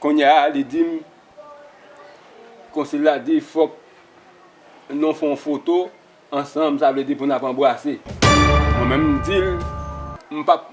Kounye a li di m, konsil la di fòk nou fè yon foto ansanm, sa vle di pou n ap anbrase. Mwen menm m di l, m p ap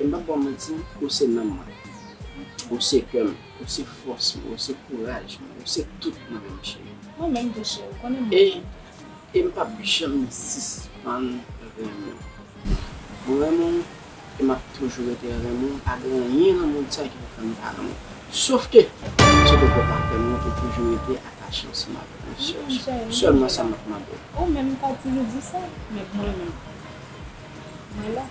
M pap baw manti, ou se nanm mwen, ou se kè m, ou se fòs mwen, ou se kouraj mwen, ou se tout mwen menm cheri. Mwen menm tou cheri, ou konnen m renmen w. E m pap janm sispann renmen w. Mwen renmen w e m ap toujou rete renmen w, pa gen anyen nan mond sa ki pou fè m pa renmen w. Sof ke, se pou kò pa fè m ou toujou rete atache ansanm avèk mwen sèl. Wi cheri, m renmen w. Sèlman sa m ap mande w. Ou menm m pa toujou di sa, men mwen menm, mwen la.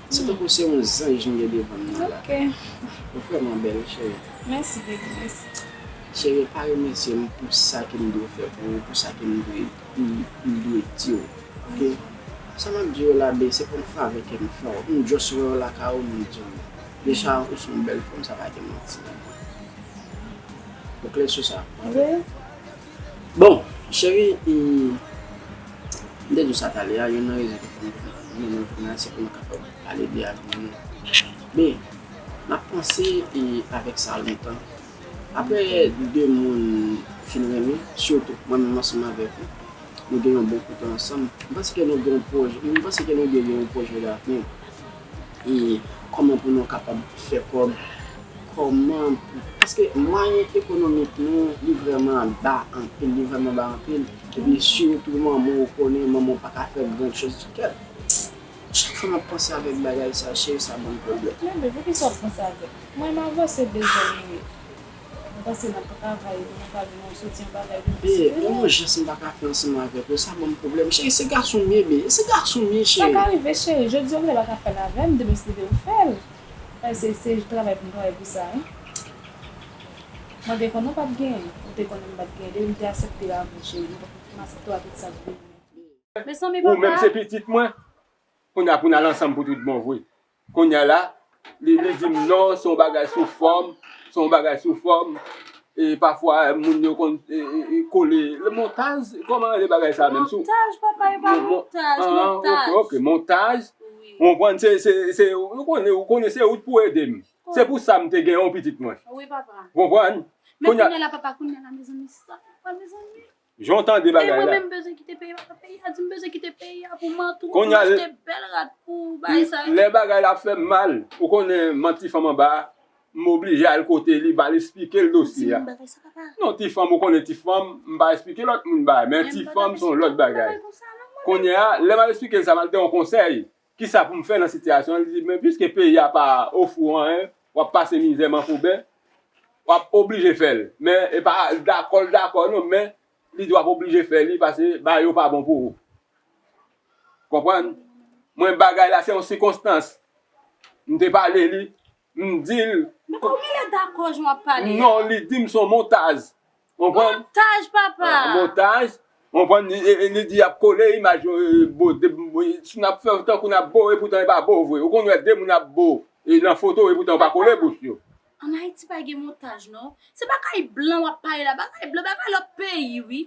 Se tankou se yon zanj m gen devanm nan la. Ok. Ou vrèman bèl cheri. Mèsi baby mèsi. Cheri pa remèsye m pou sa ke m dwe fè pou ou, pou sa ke m dwe m dwe di w ok. Sa m ap di yo la bee se kòm favè ke m fè w. M just wè w lakay ou m di w. Deja ou se yon bèl fanm sa pa gen manti. Ou klè sou sa? Wi. Bon Cheri m m te di w sa talè a, youn nan rezon ki fè m vin vini nan vil la se pou nou kapab pale de avni nou. Be, m ap panse avèk sa lontan. Aprè de moun fin renmen, sitou mwen menm ansanm avèk ou, nou gen yon bon kote ansanm, m panse ke nou gen yon pwojè, m panse ke nou de gen yon pwojè davni. E kòman pou nou kapab fè kòb? Kòman pou, paske mwayen ekonomik nou li vrèman ba anpil, li vrèman ba anpil. Epi sitou manman ou konnen manman ou pa ka fè grand chose du cœur. Chak fwa m ap panse avèk bagay sa cheri sa ban m pwoblèm. Mezanmi poukisa w ap panse avèk? Mwen m avanse bezwen m ye. M panse nap ka travay pou nou ka jwenn yon soti anba kay nou pi sipere. Gen yon jès m pa ka fè ansanm avèk ou, sa ban m pwoblèm. Cheri, se gason m ye bee, se gason m ye cheri. Sa ka rive cheri, jodi ou vle pa ka fè l avè m, demen si li vle ou fè l. Bay se se travay pou m travay pou sa wi. Mwen te konnen w pap genyen, ou te konnen m pap genyen, depi m te asepte w avè cheri, m asepte w a tout sa k vini. Mezanmi papa! Ou menm se pitit mwen, kounya pou n al ansanm pou tout bon vre. Kounye a la, li di m non, se yon bagay sou fòm, se yon bagay sou fòm, e pafwa moun yo konn kole, montaj, kòman rele bagay sa menm? Montaj papa, e pa montaj, montaj. Ok, ok, montaj. Ou konprann, se, se, se, ou konnen, ou konnen se ou t pou ede m. Se pou sa m te gen yon pitit mwen. Wi papa. Ou konprann? Men kounye a la papa, kounye a la mezanmi, sa papa mezanmi. Jan w tande bagay la. Mwen menm m bezwen kite peyi a. Peyi a di m bezwen kite peyi a pou mantou. Pou m achte bèl rad pou bagay sa yo. Lè bagay la ap fè m mal. Ou konnen m an ti fanm anba. M oblije al kote li m al esplike l dosye a. Non ti fanm ou konnen ti fanm. M pa esplike lòt moun bagay. Men ti fanm son lòt bagay. Kounye a lè m al esplike l sa m al gen yon konsèy. Kisa pou m fè nan sitiyasyon an? Li di, men piske peyi a pa ofri w anyen, w ap pase mizè manfouben, w ap oblije fè l. Men e pa dakò l dakò non, men li di w ap oblije fè li pase bagay yo pa bon pou ou. Konprann? Mwen bagay la se yon sikonstans. M te pale li, m di l. Men kòman li dakò jan w ap pale a? Non, li di m son montaj. Montaj papa. Montaj. Konprann li di yap kole imaj yo bo si nap fè tankou nap bo epoutan e pa bo vre ou konn wè de moun ap bo nan foto epoutan yo pa kole bouch yo. An Haiti pa gen montaj non. Se bagay blan wap pale la, bagay blan bagay lot peyi wi.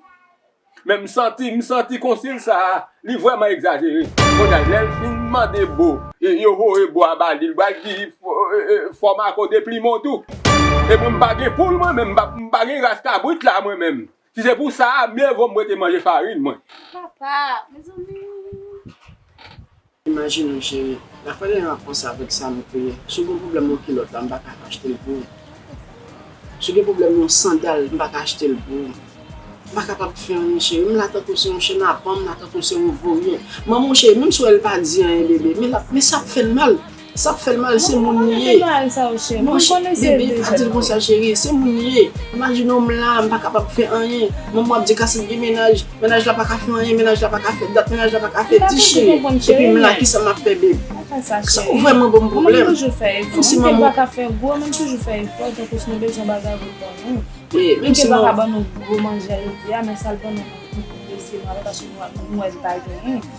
Men m santi m santi konsil sa a li vrèman egzajere. Konn a lè l fin mande bo e yo voye bo a ba li l pral di fò Marco deplimen w tou. E mwen m pa gen poul mwen menm m pa gen ras kabrit la mwen menm. Si se pou sa a mye vo m rete manje farin mwen. Papa! Mezanmi! Imajine w cheri, la fè yon apranse avèk sa nou te ye. Si w gen pwoblèm yon kilòt la, m pa ka achte l pou ou. Si w gen pwoblèm yon sandal, m pa ka achte l pou ou. M pa kapab fè anyen cheri, m la tankou se yon chenapan, m la tankou se yon voryen. Manman w cheri, menm si w wè l pa di anyen bebe, men sa ap fè l mal. Sak fèl mal se moun li ye. Monchè bebe pa dil konsa cherie se moun li ye. Imajinew m la m pa kapab fè anyen manman ap di Kasim gen mennaj, mennaj la pa ka fè anyen mennaj la pa ka fè dat mennaj la pa ka fè di cherie epi m la kisa map fè beb sa ou vrèman banm pwoblèm menm si manman ou.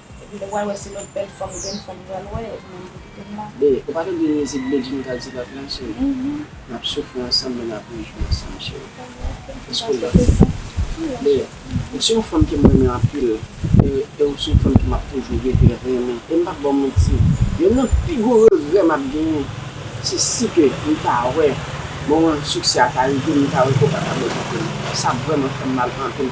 Epi lè pral wè se lòt bèl fanm grenn fanm pral wè epi menm pou kitem la. Be, ou pa tande mizik Bedjine ka di lòt lan cheri? Nap soufri ansanm men nap rejwi ansanm cheri. Eske w dako? Be, ou se yon fanm kem renmen anpil e e ou se yon fanm ke map toujou reve renmen e m pap baw manti yonn nan pi gwo regrè map genyen se si ke m ta wè moman siksè a ta rive m ta wè ke w pa ta bon kote m. Sa ap vrèman fèm mal anpil.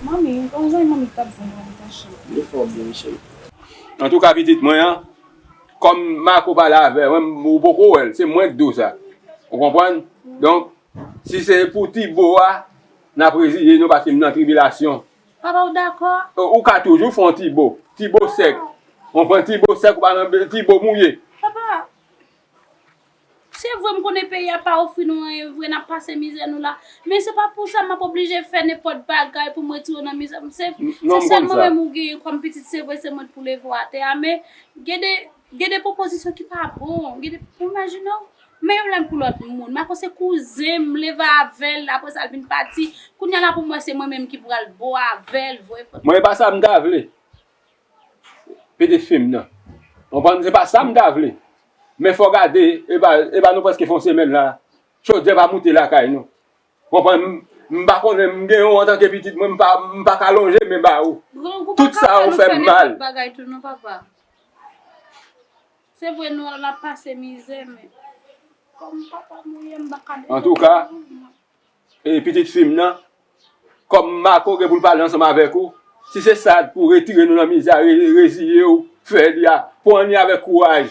Manmi, ou pa wè zanmi manmi tap zanmi manmi pa cheri. Li fè w byen wi cheri. Antouka pitit mwen an kòm Marco pale avè w ou poko wè l se mwen k di w sa ou konprann donk si se pou ti bo a n ap reziye nou paske m nan tribilasyon Papa ou dakò? Ou ka toujou fè yon ti bo ti bo sèk ou konprann ti bo sèk ou pa nan ti bo mouye Papa! Se vre m konnen peyi a pa ofri nou anyen vre, n ap pase mizè nou la, men se pa pou sa m ap oblije fè nenpòt bagay pou m retire w nan mizè m. Se sèl mwen menm ou genyen kòm pitit, se vre se mwen pou leve w atè a, men gen de gen de pwopozisyon ki pa bon, gen de, ou imajine w, men yon lè m pou lòt moun, ma ko se kouzen m leve avè l, apre sa l vin pati, kounye a la pou m wè se mwen menm ki pral bo avè l vre. Mwen e pa sa m ta vle. Pete fim nan. Konprann se pa sam ta vle. Men fò gade epa epa nou preske fè yon semèn la chodyè pa moute lakay nou. Konprann m pa konnen m gen ou antanke pitit mwen m pa ka lonje men ba ou. Grangou pa ka fè nou fè nenpòt bagay tou non papa. Se vre nou wè nap pase mizè men kòm papa m ou ye m pa ka dezobeyi ou. Antouka E pitit fi m nan, kòm Mako gen pou l pale ansanm avèk ou, si se sa pou retire nou nan mizè a, reziye w fè li a, pran li avèk kouraj.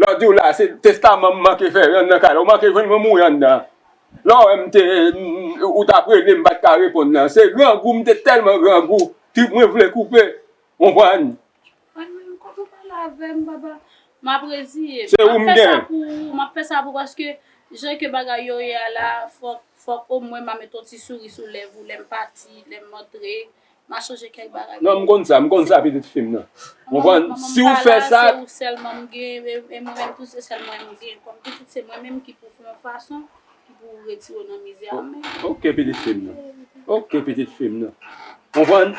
Lè w di w la, se testaman m manke fè, rann nan kay la. Ou manke jwenn mwen mouri anndan an. Lè w wè m te, ou t ap rele m pa t ka reponn nan. Se grangou, m te tèlman grangou, trip mwen vle koupe. Konprann? Konn mwen m kote w pale avè m papa. M ap reziye m. Se ou m gen. M ap fè sa pou ou, m ap fè sa pou ou paske jan ke bagay yo ye a la, fòk, fòk omwen m a met yon ti souri sou lèv ou lè m pati, lè m antre, Ma chanje kèk bagay. Non m konn sa, m konn sa pitit fi m nan. Ou konprann? Si ou fè sa. Manman m pa la, se ou sèlman m gen, e mwen menm tou se sèl mwen m gen. Kòm pitit se mwen menm ki pou fè yon fason ki pou retire ou nan mizè a men. Ok pitit fi m nan. Ok pitit fi m nan. Ou konprann?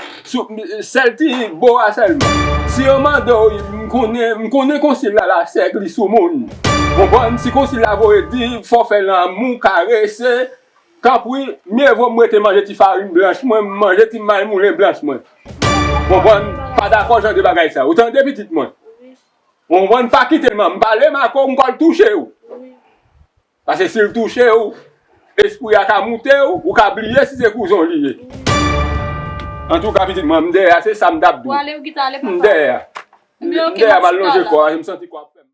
Sèl ti bo a sèlman. Si yo mande w, m konnen, m konnen konsil la la sèk li sou moun. Ou konprann? Si konsil la voye di fò fè lanmou, karese, Tanpri, mye vo m rete manje ti farin blanch mwen, m manje ti may moulen blanch mwen. Ou konprann? Pa dakò jan de bagay sa. Ou tande, pitit mwen? Ou konprann? Pa kite manman m pale, Mako, m pral touche ou. Pase si l touche ou, espri a ka moute ou, ou ka bliye si se kouzon li ye. Antouka, pitit mwen, m dèyè a, se sa m t ap di w. M dèyè a. M dèyè a, m al lonje kò a, m santi kò a ap fè m mal.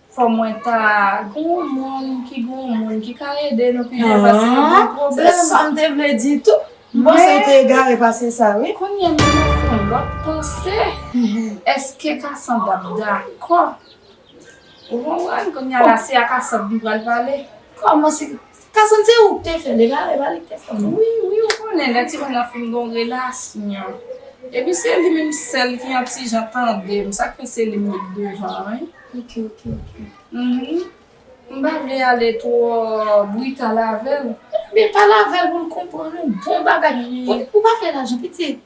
Fò mwen ta gen yon moun ki gen yon moun ki ka ede nou pi byen pase yon bon pwoblèm. Ahh se sam te vle di tou. M panse ou te egare pase sa wi. Kounya menm mwen fè yon lòt panse. Eske Cassandre ap dakò? Ou konprann? Kounya la se a Cassandre m pral pale. Kòman se Kasam se ouk te fèl egal epa lik te fèl non. Wi wi ou konnen lè timoun nan fin gon relasyon epi se li menm sèl ki yon ti jan tandem sak fè se li m met devan wi. Ok ok ok. Mph m pa vle ale twò brital avèl. Ebyen pale avèl poul konprann ou bon bagay ou pa fè lajan pitit.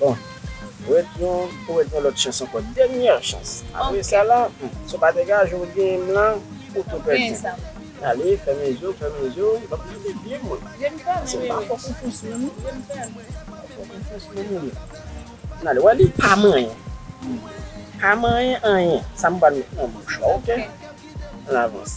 Bon Ret yon ou ret yon lòt chans ankò dènyè chans apre sa la humm si w pa degaje w genyen m lan ou tou pèdi ale fèmen je w fèmen je w banm tande byen mwen se pa fòk ou fous menm non pa fòk ou fous menm ou menm an ale wè li pa manyen pa manyen anyen sa m pral met nan bouch la ok an avanse.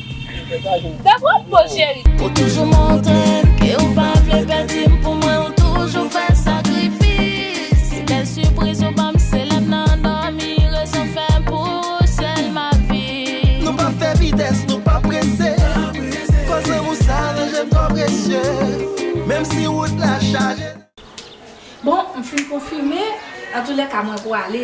Ou toujou montre ke ou pa vle pèdi m Pou mwen ou toujou fè sakrifis Se bèl sipriz ou ban m Se lè m nan dòmi Rezon m fè pou ou sèl m ap viv Nou pa fè vitès, nou pa prese Kò zanmou sa ranje m twò presye Menm si wout la chaje Bon, m fin konfime, antoulèka mwen pwale.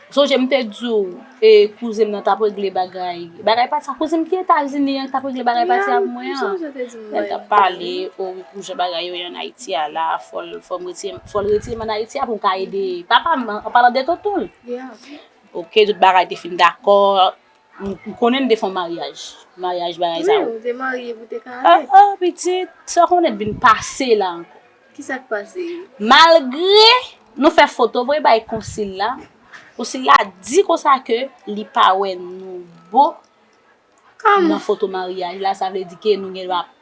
Sonje m te di w e kouzen m nan tap regle bagay bagay pati sa kouzen m ki etazini an ki tap regle bagay pati avk mwen an lèl tap pale o wi pou jan bagay yo ye an ayiti a la fòl fòm retire m fòl retire m an ayiti a pou m ka ede papa m an palan de tonton l ok tout bagay te fin dakò M konnen nou te fon maryaj. Maryaj bagay sa yo. Wi, ou te marye pou te ka ale. Ah ah pitit, sa konnen t vin pase la ankò. Ki sa k pase? Malgre nou fè foto voye bay konsil la, konsil la di konsa ke li pa wè nou bon nan foto maryaj la, sa vle di ke nou gen dwa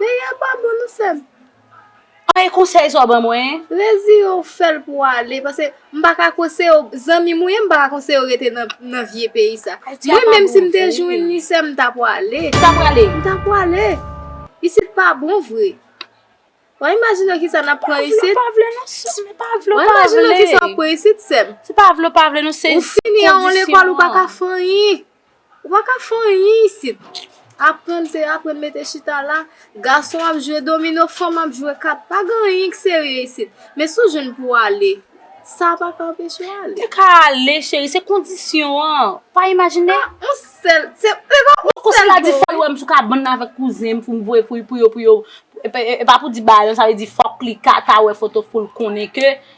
Peyi a pa bon non sèm. An e konsèy sa w ban mwen? Rezire w fè l pou w ale pase m pa ka konseye w zanmi m ou ye m pa ka konseye w rete nan vye peyi sa. Mwen menm si m te jwenn li sèm m ta pwale. Ou ta pwale? M ta pwale. Isit pa bon vre. Wa imajine w kisa n ap pran isit. Ou pa vle ou pa vle non sèm ou pa vle ou pa vle. Wa imajine w kisa w ap pran isit sèm. Se pa vle ou pa vle non se kondisyon an. Ou fini an w lekòl ou pa ka fè anyen. Ou pa ka fè anyen isit. Aprann se aprann mete chita la. Gason ap jwe domino, fanm ap jwe kat. Pa gen anyen ki serye isit. Men si w jwenn pou w ale, sa a pa ka anpeche w ale. Ou ka ale cheri, se kondisyon an. Pa imajine. A, yon sèl, se, se pa yon sèl bo wi. Sila di fò l wè m sou kabann nan avèk kouzen m pou m voye pou yo, pou yo, e pa pou di bayon, sa vle di fòk li ka ta wè foto pou l konnen ke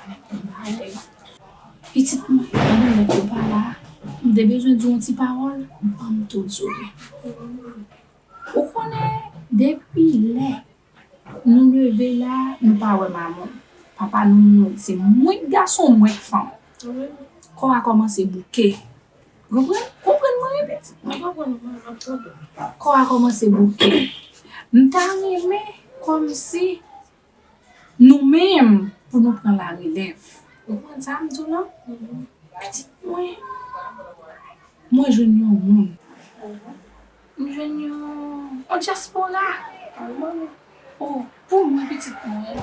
Ala ti malè. Pitit mwen pandan nèg yo pa la, m te bezwen di w yon ti pawòl, ban m tout zo li. Ou konnen depi lè nou leve la a, nou pa wè Mamu. Papa nou mouri. Se mwen k gason, mwen k fanm. Kò a kòmanse bouke. Konprann? Konprann mwen ye pitit mwen? Mwen konprann ou, m ap tande w. Kò a kòmanse bouke. M ta renmen kòmsi Nou menm pou nou pran la relèv. Ou konprann sa m di w lan? Pitit mwen, mwen jwenn yon moun. M jwenn yon dyaspora. O, pou mwen pitit mwen.